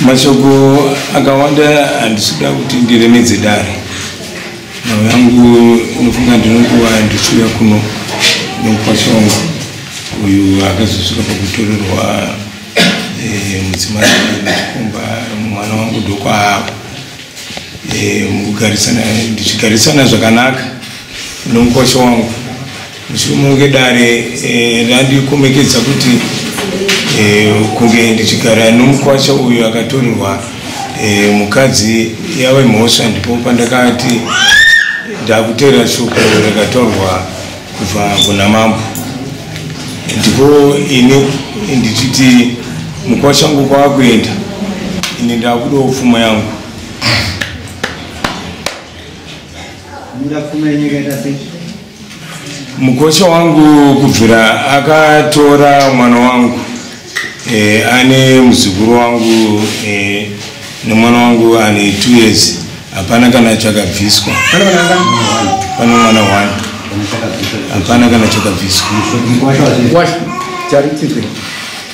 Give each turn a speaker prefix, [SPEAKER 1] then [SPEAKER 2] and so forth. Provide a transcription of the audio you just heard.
[SPEAKER 1] mashoko akawanda handisida kuti ndiremedze dare nhau yangu inofunga ndinonguva ndichiuya kuno nomukwasha wangu uyu akazosvika pakutorerwa eh, mudzimai nechikomba mwana wangu ndokwaako eh, mukugarisana ndichigarisana zvakanaka nomukwasha wangu Muchimuke dare eh, randikomekedza e, kuti e, kunge ndichigara nomukwacha uyu akatorerwa e, mukadzi yave mhosva ndipo pandakati ndakutera shoko rakatorwa kubva kuna mambo ndipo ini ndichiti mukwacha ngu kwakuenda ini ndakudawo pfuma yangu mukosha wangu kubvira akatora mwana wangu e, ane muzukuru wangu e, nemwana wangu ane two years hapana kana chakabviswa pane mwana one hapana kana chakabviswa